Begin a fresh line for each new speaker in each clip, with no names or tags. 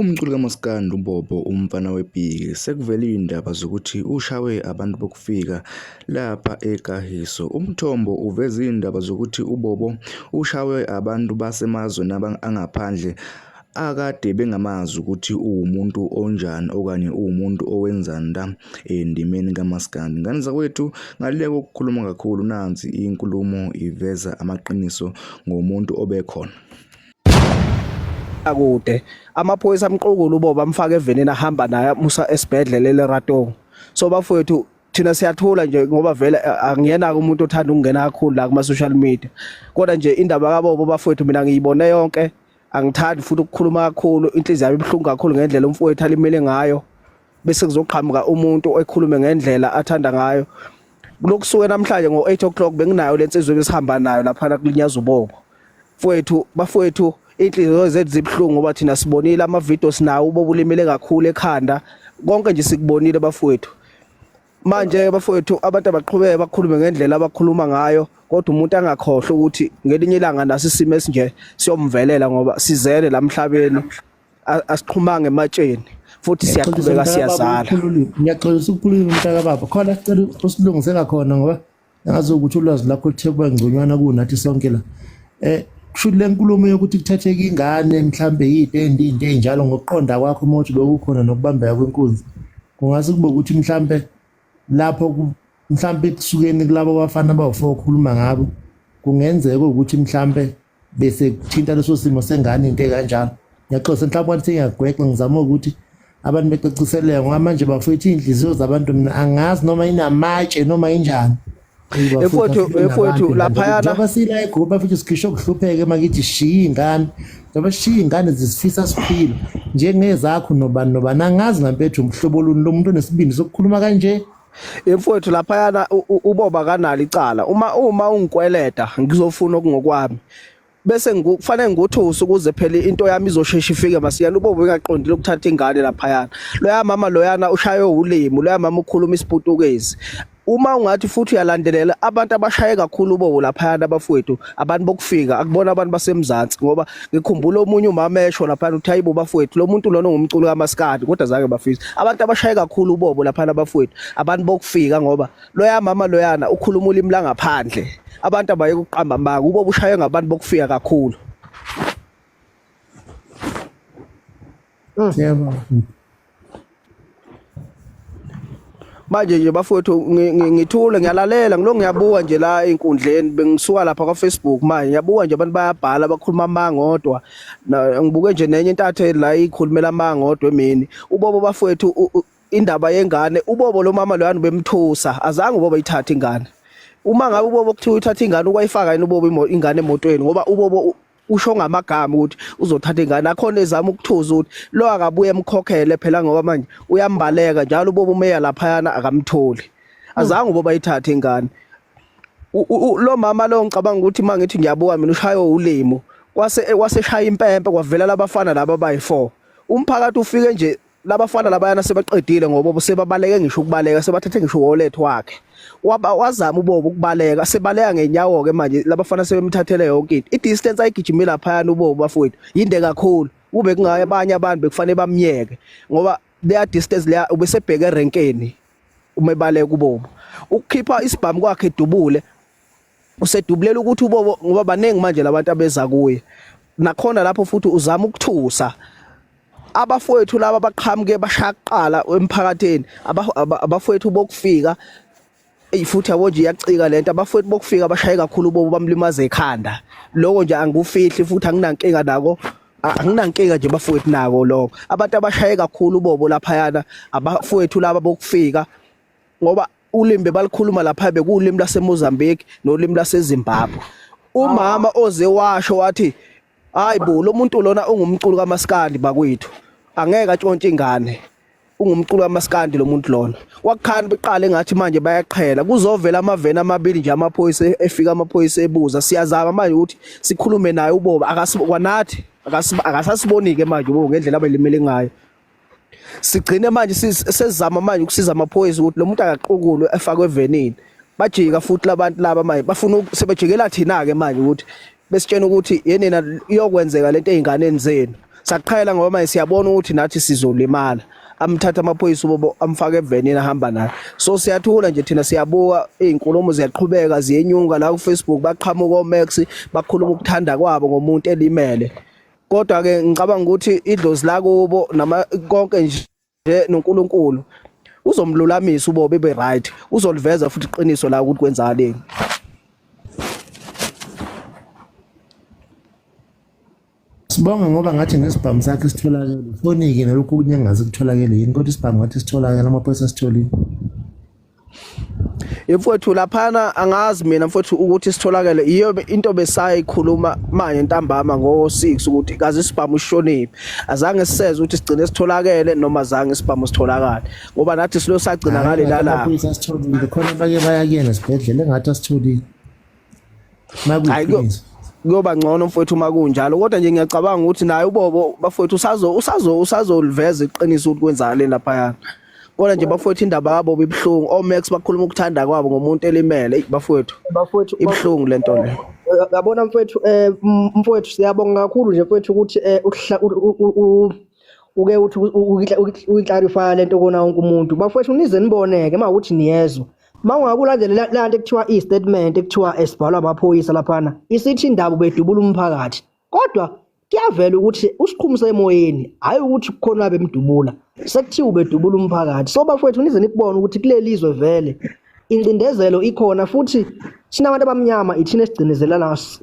Umculi kamaskandi uBobo umfana wePiki sekuvele izindaba zokuthi ushawe abantu bokufika lapha eKagiso. Umthombo uveze izindaba zokuthi uBobo ushawe abantu basemazweni angaphandle akade bengamazi ukuthi uwumuntu onjani okanye uwumuntu owenzani la endimeni kamaskandi. Ngane zakwethu ngale kokukhuluma kakhulu nansi inkulumo iveza amaqiniso ngomuntu obekhona.
akude amaphoyisa amqukula uboba amfaka evenini ahamba naye musa esibhedlela eLeratong so bafowethu thina siyathula nje ngoba vele eh, angiyena umuntu othanda ukungena kakhulu la kuma social media kodwa nje indaba kabobo bafowethu mina ngiyibone yonke angithandi futhi ukukhuluma kakhulu inhliziyo yami ibhlungu kakhulu ngendlela umfowethu alimele ngayo bese kuzoqhamuka umuntu ekhulume ngendlela athanda ngayo kulokusuke namhlanje ngo-8 o'clock benginayo le nsizwa ebesihamba nayo laphana kulinyaza ubongo mfowethu bafowethu inhliziyo zethu zibuhlungu ngoba thina sibonile amavidiyo sinawo ubobulimele kakhulu ekhanda konke nje sikubonile bafowethu manje bafowethu abantu abaqhubeke bakhulume ngendlela abakhuluma ngayo kodwa umuntu angakhohlwa ukuthi ngelinye ilanga naso isimo esinje siyomvelela ngoba sizele lamhlabeni asiqhumanga ematsheni futhi siyaqhubeka siyazala ngiyaxolisa
ukukhuluma umntaka baba khona sicela usilungise ngakhona ngoba ngazi ukuthi ulwazi lakho luthe kuba ngconywana kunathi sonke la eh kusho le nkulumo yokuthi kuthatheka ingane mhlambe yide endinde enjalo ngokuqonda kwakho uma uthi bekukhona nokubambeka kwenkunzi kungase kube ukuthi mhlambe lapho mhlambe ekusukeni kulabo bafana abawufo okhuluma ngabo kungenzeka ukuthi mhlambe bese kuthinta leso simo sengane into ekanjalo ngiyaxosa mhlawumbe wathi ngiyagwexa ngizama ukuthi abantu becaciseleke ngoba manje bafethu iy'nhliziyo zabantu mina angazi noma inamatshe noma injani efowethu
efowethu laphayana basila egroup
bafethu sikhishwe kuhlupheke makithi shiya ingane njengoba sishiya ingane zisifisa siphila njengezakho nobani nobani angazi ngampethu umhlobo luni lomuntu onesibindi sokukhuluma kanje Emfowethu
laphayana uboba kanalo icala. Uma uma ungikweleta ngizofuna okungokwami. Bese ngikufanele ngikuthuse ukuze phela into yami izoshesha ifike masiyana uboba engaqondile ukuthatha ingane laphayana. Loya mama loyana ushaywe ulimi, loya mama ukhuluma isiputukezi. Uma ungathi futhi uyalandelela abantu abashaye kakhulu ubobo laphayana bafowethu abantu bokufika akubona abantu basemzansi ngoba ngikhumbula omunye umama esho laphana uthi hayibo bafowethu lo muntu lona ungumculi kamaskadi kodwa zange bafisa abantu abashaye kakhulu ubobo laphana bafowethu abantu bokufika ngoba loya mama loyana ukhuluma ulimi langaphandle abantu abaye kuqamba mbanga ubobo ushaye ngabantu bokufika kakhulu
Mm. Yebo.
Manje nje bafowethu ngi- ngi- ngithule ngiyalalela ngilo ngiyabuka nje la enkundleni bengisuka lapha kwa Facebook manje ngiyabuka nje abantu bayabhala bakhuluma amanga odwa Na- ngibuke nje nenye intatheli la ikhulumela amanga odwa emini ubobo bafowethu u- u- indaba yengane ubobo lo mama loyani bemthusa azange ubobo ithathe ingane uma ngabe ubobo kuthiwa uthatha ingane ukwayifaka yini ubobo imo- ingane emotweni ngoba ubobo u- usho ngamagama ukuthi uzothatha ingane akhona ezama ukuthuza ukuthi lo akabuye emkhokhele phela ngoba manje uyambaleka njalo uboba umeya laphayana akamtholi azange uboba ithathe ingane lo mama lo ngicabanga ukuthi mangithi ngiyabuka mina ushaywe ulimo kwase kwaseshaya impempe kwavela labafana laba bayi4 umphakathi ufike nje labafana labayana sebaqedile ngoba sebabaleke ngisho ukubaleka sebathethe ngisho wallet wakhe waba wazama ubobo ukubaleka sebaleka ngenyawo ke manje labafana sebemthathele yonke into idistance ayigijime lapha yana ubobo bafowethu yinde kakhulu kube kungaye abanye abantu bekufanele bamnyeke ngoba leya distance leya ubesebheke erenkeni uma ebaleka ubobo ukukhipha isibhamu kwakhe dubule usedubulela ukuthi ubobo ngoba baningi manje labantu abeza kuye nakhona lapho futhi uzama ukuthusa abafowethu laba baqhamuke bashaqala emphakathini abafowethu bokufika eyi futhi yabo nje iyacika lento abafowethu bokufika bashaye kakhulu bobo bamlimaze ekhanda lokho nje angikufihli futhi anginankinga nako anginankinga nje bafowethu nako lokho abantu abashaye kakhulu bobo laphayana abafowethu laba bokufika ngoba ulimi bebalikhuluma lapha bekuwulimi laseMozambique nolimi laseZimbabwe umama oze washo wathi hayi bo lo muntu lona ungumculo kamaskandi bakwethu angeke atshontshe ingane ungumculo kamaskandi lo muntu lona kwakukhani beqale ngathi manje bayaqhela kuzovela amaveni amabili nje amaphoyisa e-, efika amaphoyisa ebuza siyazama manje ukuthi sikhulume naye uboba akasikwanathi akasasibonike manje uboba ngendlela abelimele ngayo sigcine manje sesizama manje ukusiza amaphoyisa ukuthi lo muntu akaqukulwe efakwe evenini bajika futhi labantu laba manje bafuna sebejikela thina ke manje ukuthi besitshena ukuthi yenina iyokwenzeka lento ezinganeni zenu saqhayela ngoba manje siyabona ukuthi nathi sizolimala amthatha amaphoyisa ubobo amfake evenini ahamba naye so siyathula nje thina siyabuka izinkulumo ziyaqhubeka ziyenyuka la ku Facebook baqhamuka oMax bakhuluma ukuthanda kwabo ngomuntu elimele kodwa ke ngicabanga ukuthi idlozi lakubo nama konke nje noNkulunkulu uzomlulamisa ubobe be right uzoliveza futhi iqiniso la ukuthi kwenzani
Sibonga ngoba ngathi nesibhamu sakhe sitholakele fonike nalokhu kunye ngazi kutholakele yini kodwa isibhamu ngathi sitholakele amaphoyisa sitholile
Mfowethu laphana angazi mina mfowethu ukuthi sitholakele iyo into besayikhuluma manje ntambama ngo6 ukuthi kaze sibhamu ushoniphi azange siseze ukuthi sigcine sitholakele noma zange sibhamu sitholakale ngoba nathi silo sagcina ngale lala
khona abanye bayakuyena sibhedlela engathi asitholile kuyoba ngcono
mfowethu uma kunjalo kodwa nje ngiyacabanga ukuthi naye ubobo bafowethu usazo usazo usazoliveza iqiniso ukuthi kwenzakaleni laphayana kodwa nje bafowethu indaba yabo bibuhlungu omax bakhuluma ukuthanda kwabo ngomuntu elimele bafowethu bafowethu ibuhlungu lento le yabona mfowethu
eh mfowethu siyabonga kakhulu nje mfowethu ukuthi eh, uke uthi ukuyiclarifya lento kona wonke umuntu bafowethu nize niboneke uma ukuthi niyezwa Mawungabe ulandelela lanto ekuthiwa i-statement ekuthiwa esibhalwa amaphoyisa laphana isithi indaba bedubula umphakathi kodwa kuyavela ukuthi usikhumi semoyeni hhayi ukuthi kukhona bemdubula sekuthiwa ubedubula umphakathi so bafowethu nize nikubona ukuthi kuleli zwe vele incindezelo ikhona futhi thina abantu abamnyama ithina esigcinezela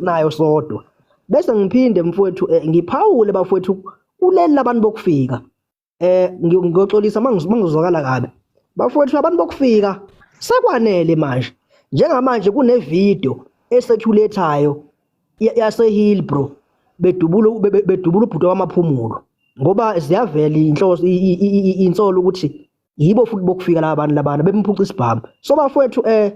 nayo sodwa bese ngiphinde mfowethu eh, ngiphawule bafowethu kuleli labantu bokufika eh ngiyoxolisa mangizwakala kabi bafowethu abantu bokufika sekwanele manje njengamanje kunevideo eseculateayo yasehill bro bedubula bedubula ubhuti wamaphumulo ngoba ziyavela inhloso insolo ukuthi yibo futhi bokufika laba bantu labana bemphuca isibhamu so bafowethu eh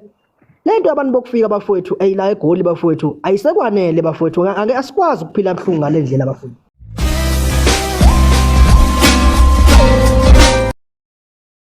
lento abantu bokufika bafowethu ayila egoli bafowethu ayisekwanele bafowethu ake asikwazi ukuphila buhlungu ngale ndlela bafowethu